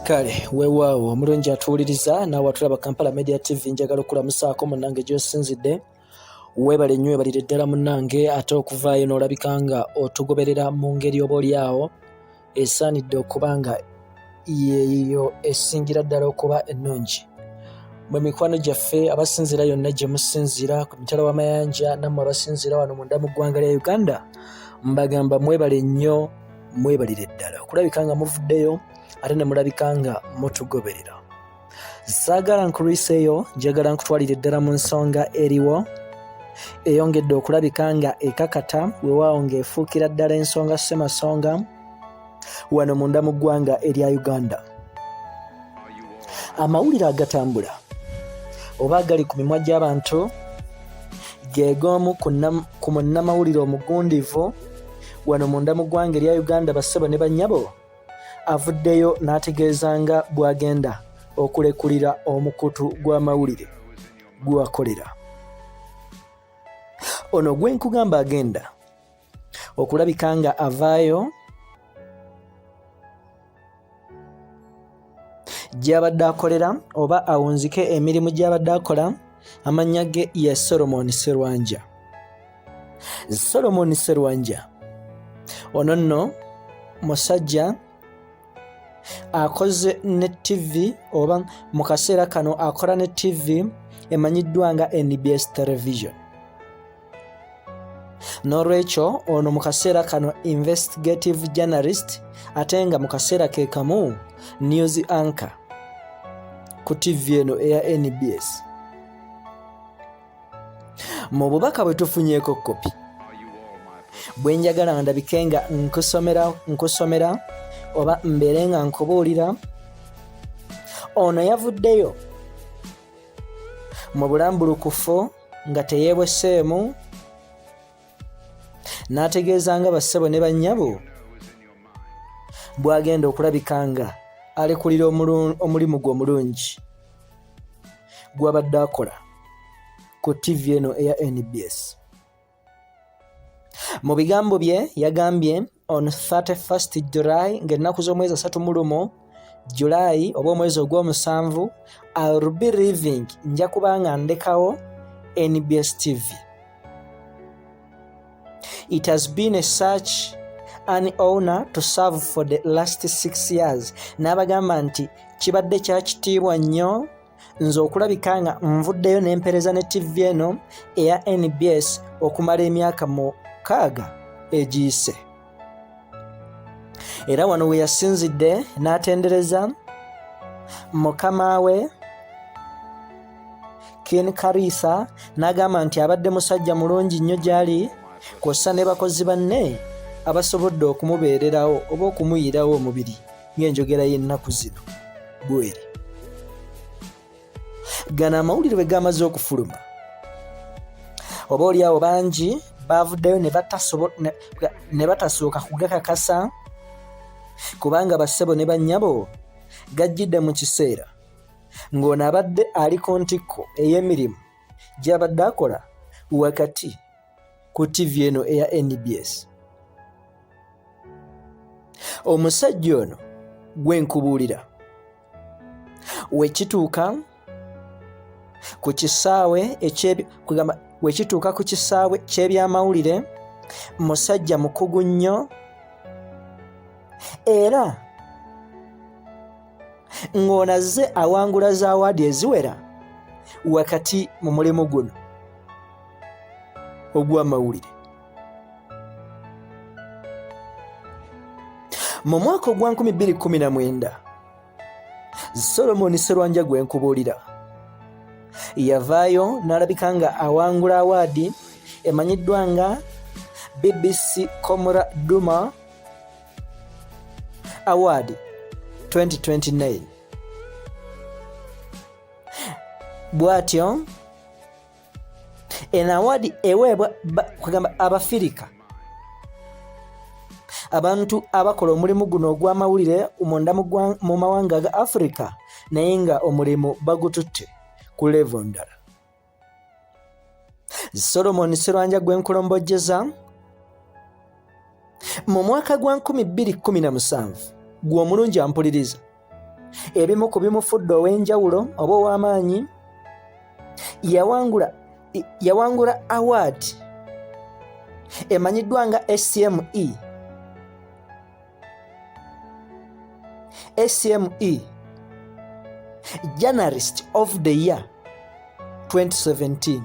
kale weewaawo omulungi atuwuliriza naawe atulaba kampala media tv njagala okulamusaako munange gyosinzidde weebale nnyo webalire ddala munange ate okuvaayo n'olabika nga otugoberera mu ngeri oba olyawo esaanidde okuba nga yeeyo esingira ddala okuba ennungi mwe mikwano gyaffe abasinziira yonna gye musinziira ku mitala w'amayanja nammwe abasinziira wano munda mu ggwanga lya uganda mbagamba mwebale nnyo mwebalire ddala okulabika nga muvuddeyo ate ne mulabika nga mutugoberera saagala nkulwiseeyo njagala nkutwalire ddala mu nsonga eriwo eyongedde okulabika nga ekakata wewaawo ng'efuukira ddala ensonga ssemasonga wano munda mu ggwanga erya uganda amawulire agatambula oba agali ku mimwa gy'abantu geegoomu ku munnamawulire omugundivu wano munda mu ggwanga erya uganda bassebo ne bannyabo avuddeyo n'ategeeza nga bw'agenda okulekulira omukutu gw'amawulire gwewakolera ono gwenkugamba agenda okulabika nga avaayo gy'abadde akolera oba awunzike emirimu gy'abadde akola amannya ge ye solomoni serwanja solomoni serwanja ono nno musajja akoze ne tivi oba mu kaseera kano akola ne tivi emanyiddwa nga nbs television n'olwekyo ono mu kaseera kano investigative journalist ate nga mu kaseera ke kamu news anchor ku tv eno eya nbs mu bubaka bwe tufunyeeko kopi bwe njagala nga ndabike nga nkusomera nkusomera oba mbeere nga nkubuulira ono yavuddeyo mu bulambulukufu nga teyeebweseemu n'ategeeza nga bassebo ne bannyabo bw'agenda okulabika nga alekulira omulimu gwe omulungi gw'abadde akola ku ttivi eno eya nbs mu bigambo bye yagambye on 31st July ng'ennaku z'omwezi asatu mu lumu July oba omwezi ogw'omusanvu I'll be leaving nja kubanga ndekawo NBS TV it has been a search an owner to serve for the last six years n'abagamba nti kibadde kya kitiibwa nnyo nze okulabika nga nvuddeyo n'empereza ne ttivi eno eya nbs okumala emyaka mukaaga egiyise era wano we yasinzidde n'atendereza mukama we ken karisa n'agamba nti abadde musajja mulungi nnyo gy'ali kw'ossa ne bakozi banne abasobodde okumubeererawo oba okumuyirawo omubiri ng'enjogera y'ennaku zino bweri gano amawulire bwe gaamaze okufuluma oba oli awo bangi baavuddeyo ne batasooka kugakakasa kubanga bassebo ne bannyabo gajjidde mu kiseera ng'ono abadde ali ku ntikko ey'emirimu gy'abadde akola wakati ku ttivi eno eya nbs omusajja ono gwe nkubuulira wekituuka ku kisaawe ekyekugamba wekituuka ku kisaawe ky'ebyamawulire musajja mukugu nnyo era ng'ono azze awangula za waadi eziwera wakati mu mulimu guno ogw'amawulire mu mwaka ogwa 219 solomoni serwanja gwe nkubuulira yavaayo n'alabika nga awangula awaadi emanyiddwa nga bbc comra duma award 2029 bw'atyo eno awaadi eweebwa kugamba abafirika abantu abakola omulimu guno ogw'amawulire munda mu mawanga ga afirika naye nga omulimu bagututte ku levo ndala solomon serwanja gwenkulombojjeza mu mwaka gwa 217 gw'omulungi ampuliriza ebimu ku bimufudde ow'enjawulo oba ow'amaanyi yawangula yawangula award emanyiddwa nga hcme hcme journalist of the year 2017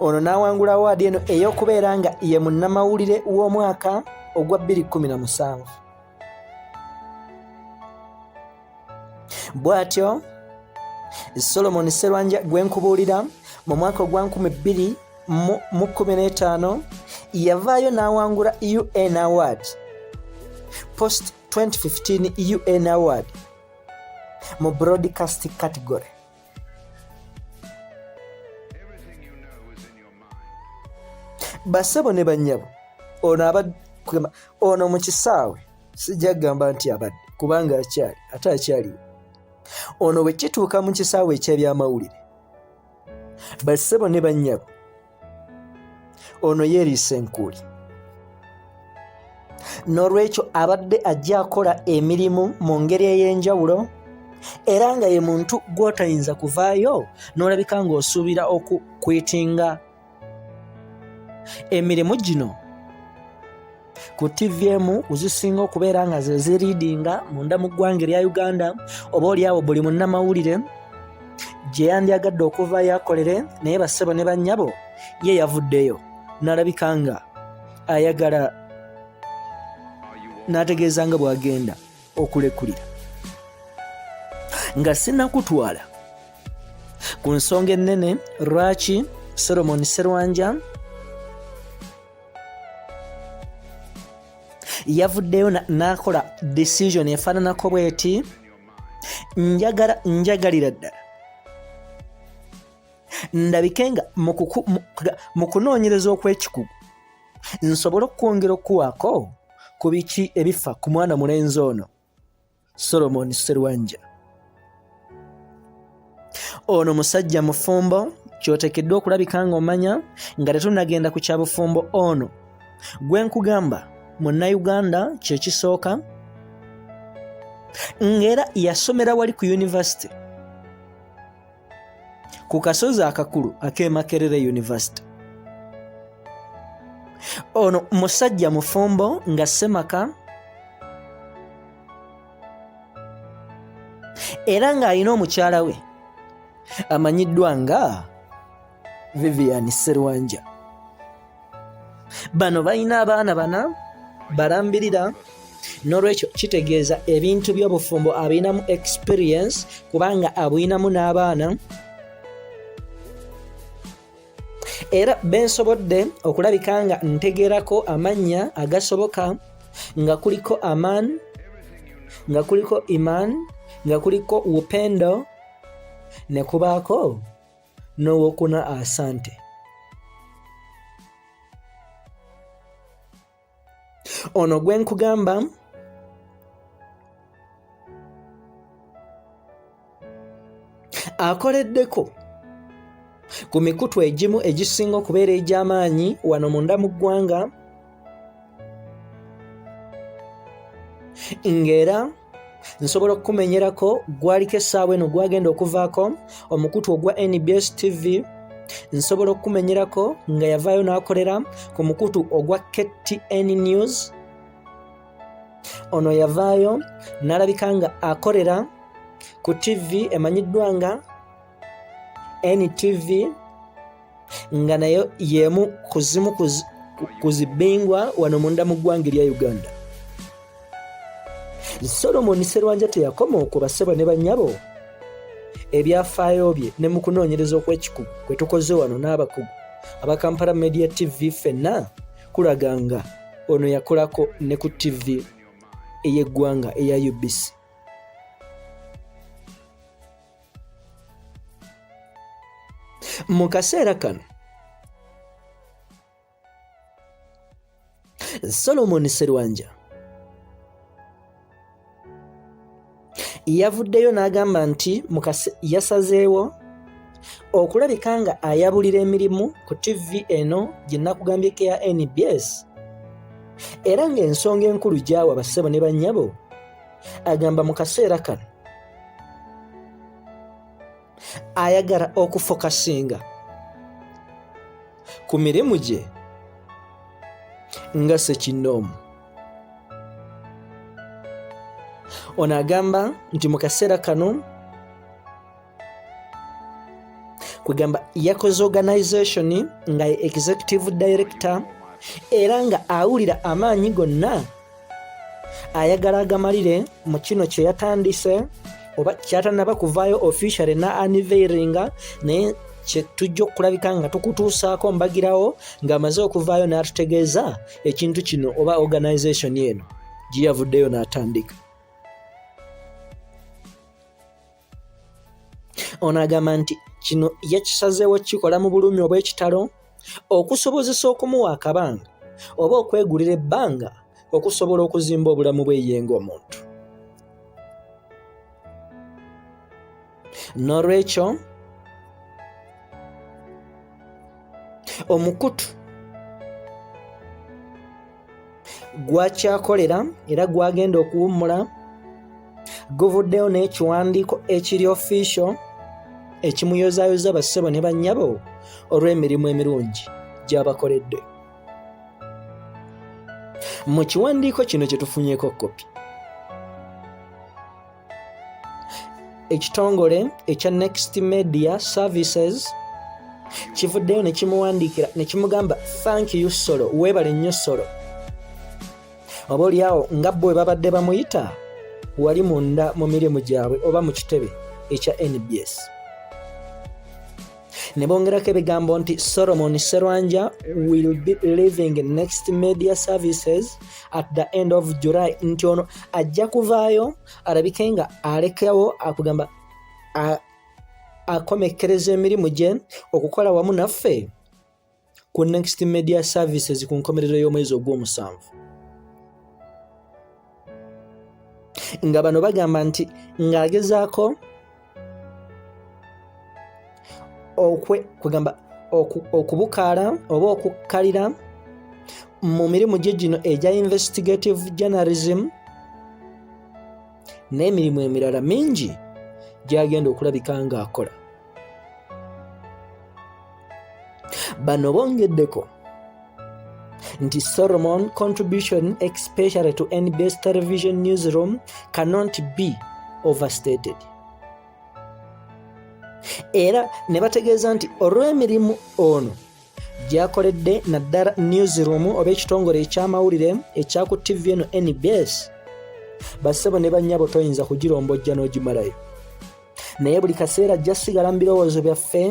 ono n'awangula awaadi eno ey'okubeera nga ye munnamawulire w'omwaka ogwa 2017 bw'atyo solomoni serwanja gwe nkubuulira mu mwaka ogwa 2015 yavaayo n'awangula un award post 2015 un award mu broadcast category basebo ne banyabo ono abadde ono mu kisaawe sijja kugamba nti abadde kubanga akyali ate akyaliwo ono bwe kituuka mu kisaawe eky'ebyamawulire basebo ne banyabo ono yeeriisa enkuuli n'olwekyo abadde ajja akola emirimu mu ngeri ey'enjawulo era nga ye muntu gw'otayinza kuvaayo n'olabika ng'osuubira okukwitinga emirimu gino ku ttivi emu zisinga okubeera nga ze ziriidinga munda mu ggwanga erya uganda oba olyawo buli munnamawulire gye yandyagadde okuva yakolere naye bassebo ne bannyabo ye yavuddeyo n'alabika nga ayagala n'ategeeza nga bw'agenda okulekulira nga sinakutwala ku nsonga ennene lwaki solomon serwanja yavuddeyo n'akola decision efaananako bweti njagala njagalira ddala ndabike nga mu kunoonyereza okw'ekikugu nsobole okwongera okuwaako ku biki ebifa ku mwana mulenzi ono Solomon Serwanja ono musajja mufumbo kyotekeddwa okulabika ng'omanya nga tetunagenda ku kyabufumbo ono gwe nkugamba munnayuganda kyekisooka ng'era yasomera wali ku yunivasite ku kasozi akakulu ak'e Makerere University. Ono musajja mufumbo nga ssemaka era ng'alina omukyala we amanyiddwa nga vivian serwanja bano balina abaana bana balambirira nolwekyo kitegeeza ebintu byobufumbo abinamu experience kubanga abwinamu n'abaana era bensobodde okulabika nga ntegerako amannya agasoboka nga kuliko aman nga kuliko iman nga kuliko upendo ne kubaako n'owokuna asante ono gwe nkugamba akoleddeko ku mikutu egimu egisinga okubeera egy'amaanyi wano munda mu ggwanga ng'era nsobola okukumenyerako gwaliko essaawa eno gwagenda okuvaako omukutu ogwa nbs tv nsobola okukumenyerako nga yavaayo n'akolera ku mukutu ogwa ktn news ono yavaayo n'alabika nga akolera ku ttivi emanyiddwa nga NTV nga nayo yemu kuzimu kuzibingwa wano munda mu ggwanga erya Uganda. Solomon Serwanja teyakoma okuba ssebo ne bannyabo ebyafaayo bye ne mu kunoonyereza okw'ekikugu kwe tukoze wano n'abakugu aba Kampala Media TV ffenna kulaga nga ono yakolako ne ku TV ey'eggwanga eya UBC. mu kaseera kano solomoni serwanja yavuddeyo n'agamba nti yasazeewo okulabika nga ayabulira emirimu ku tv eno gye nakugambyeko ya nbs era ng'ensonga enkulu gyawa bassebo ne bannyabo agamba mu kaseera kano ayagala okufokasinga ku mirimu gye nga sekinnoomu ono agamba nti mu kaseera kano kwegamba yakoze organization nga ye executive director era nga awulira amaanyi gonna ayagala agamalire mu kino kye yatandise oba kyatanaba kuvaayo officially na aniveiringa naye kyetujja okulabika nga tukutuusaako mbagirawo ng'amaze okuvaayo n'atutegeeza ekintu kino oba organization eno gye yavuddeyo n'atandika ono agamba nti kino yakisazeewo kukikola mu bulumi obw'ekitalo okusobozesa okumuwa akabanga oba okwegulira ebbanga okusobola okuzimba obulamu bweyenga omuntu n'olwekyo omukutu gwakyakolera era gwagenda okuwummula guvuddeyo n'ekiwandiiko ekiri ofiisho ekimuyozayoza bassebo ne bannyabo olw'emirimu emirungi gy'abakoledde mu kiwandiiko kino kye tufunyeko kopi ekitongole ekya next media services kivuddeyo nekimuwandiikira nekimugamba thank you solo weebale nnyo solo oba olyawo nga bwe babadde bamuyita wali munda mu mirimu gyabwe oba mu kitebe ekya nbs ne bongerako ebigambo nti solomon serwanja will be living next media services at the end of july nti ono ajja kuvaayo alabike nga alekewo akugamba akomekkereza emirimu gye okukola wamu naffe ku Next Media Services ku nkomerero y'omwezi ogw'omusanvu nga bano bagamba nti ng'agezaako okwe kugamba okubukaala oba okukkalira mu mirimu gye gino egya investigative journalism n'emirimu emirala mingi gyagenda okulabika ng'akola bano bongeddeko nti solomon contribution especially to nbs television newsroom cannot be overstated era ne bategeeza nti olw'emirimu ono gyakoledde naddala newsroom oba ekitongole ekyamawulire ekyaku tv eno nbs bassebo ne bannyabo toyinza kugirombojja n'ogimalayo naye buli kaseera ajja sigala mu birowoozo byaffe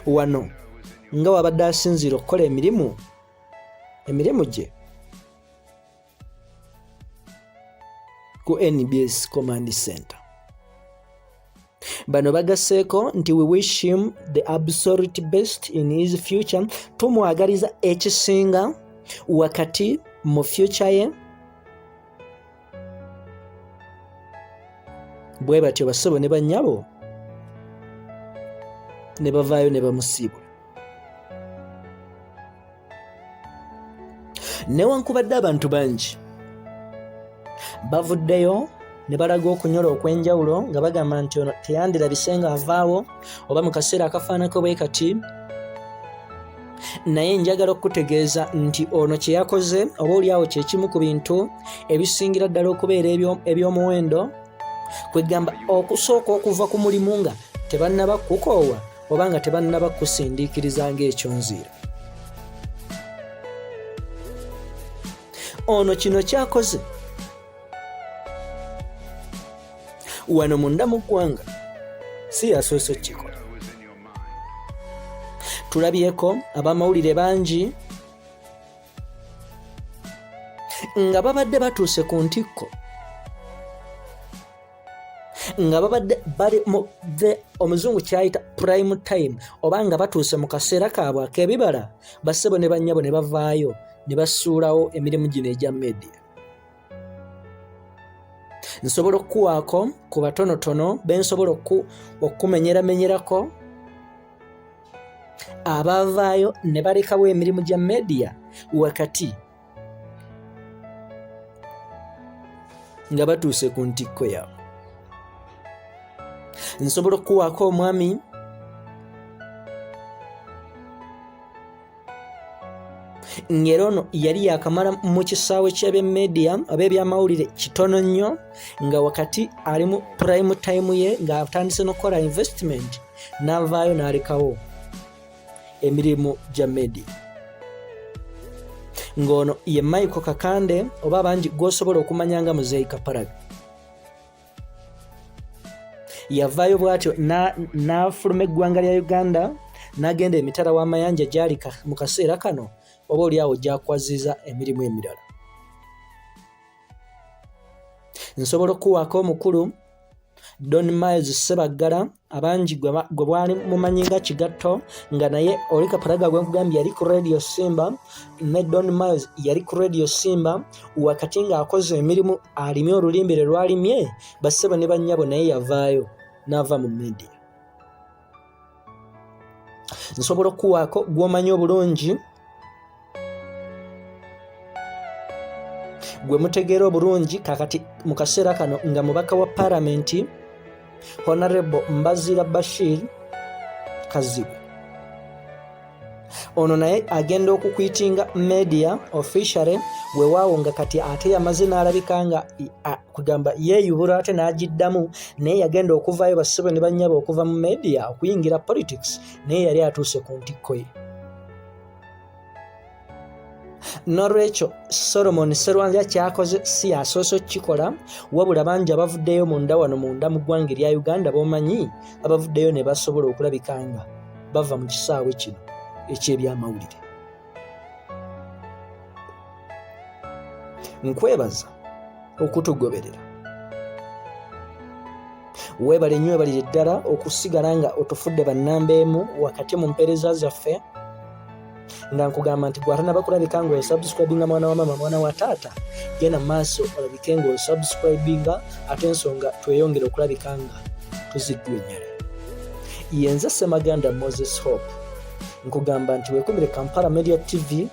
wano nga wabadde asinziira okukola emirimu emirimu gye ku nbs command center bano bagasseeko nti we wish him the absolute best in his future tumwagaliza ekisinga wakati mu future ye bwe batyo basebo ne bannyabo ne bavaayo ne bamusiibula newankubadde abantu bangi bavuddeyo ne balaga okunyola okw'enjawulo nga bagamba nti ono teyandirabise nga avaawo oba mu kaseera akafaanako bwe kati naye njagala okukutegeeza nti ono kye yakoze oba olyawo kyekimu ku bintu ebisingira ddala okubeera eby'omuwendo kwegamba okusooka okuva ku mulimu nga tebannaba kukoowa oba nga tebannaba kukusindiikiriza ng'ekyonziira ono kino kyakoze wano munda mu ggwanga si yasoose okukikola tulabyeko abamawulire bangi nga babadde batuuse ku ntikko nga babadde bali mu the omuzungu kyayita prime time oba nga batuuse mu kaseera kaabwe ak'ebibala bassebo ne bannyabo ne bavaayo ne basuulawo emirimu gino egya media nsobola okukuwaako ku batonotono be nsobola okukumenyeramenyerako abavaayo ne balekawo emirimu gya mediya wakati nga batuuse ku ntikko yaabwe nsobola okukuwaako omwami ng'era ono yali yakamala mu kisaawe ky'abemedia oba ebyamawulire kitono nnyo nga wakati ali mu prime time ye ng'atandise n'okukola investment n'avaayo n'alekawo emirimu gya media ng'ono ye michael kakande oba bangi gw'osobola okumanya nga muzeeyi kaparaga yavaayo bwatyo n'afuluma eggwanga lya uganda n'agenda emitala w'amayanja gyali mu kaseera kano oba olyawo gyakwazziza emirimu emirala nsobola okukuwaako omukulu don miles sebaggala abangi gwe bwali mumanyi nga kigatto nga naye oli kaparaga gwe nkugambye yali ku radio simba ne don miles yali ku radio simba wakati ng'akoze emirimu alimye olulimbe lwe lwalimye bassebo ne bannyabo naye yavaayo n'ava mu media nsobola okukuwaako gw'omanyi obulungi gwe mutegeera obulungi kakati mu kaseera kano nga mubaka wa paramenti honorable mbazira bashir kazibu ono naye agenda okukwitinga media officiale wewaawo nga kati ate yamaze n'alabika nga kugamba yeeyubula ate n'agiddamu naye yagenda okuvaayo basibe ne bannyaba okuva mu media okuyingira politics naye yali atuuse ku ntikko ye n'olwekyo solomoni serwanja kyakoze si yasoose okukikola wabula bangi abavuddeyo munda wano munda mu ggwanga erya uganda bomanyi abavuddeyo ne basobola okulabika nga bava mu kisaawe kino eky'ebyamawulire nkwebaza okutugoberera weebale nnyo webalire ddala okusigala nga otufudde bannamba emu wakati mu mpeereza zaffe nga nkugamba nti gwatanaba kulabika nga osubscribinga mwana wa mama mwana wa taata genda mu maaso olabike nga osubscribinga ate ensonga tweyongere okulabika nga tuziggwenyala yenze semaganda moses hope nkugamba nti wekumire kampala media tv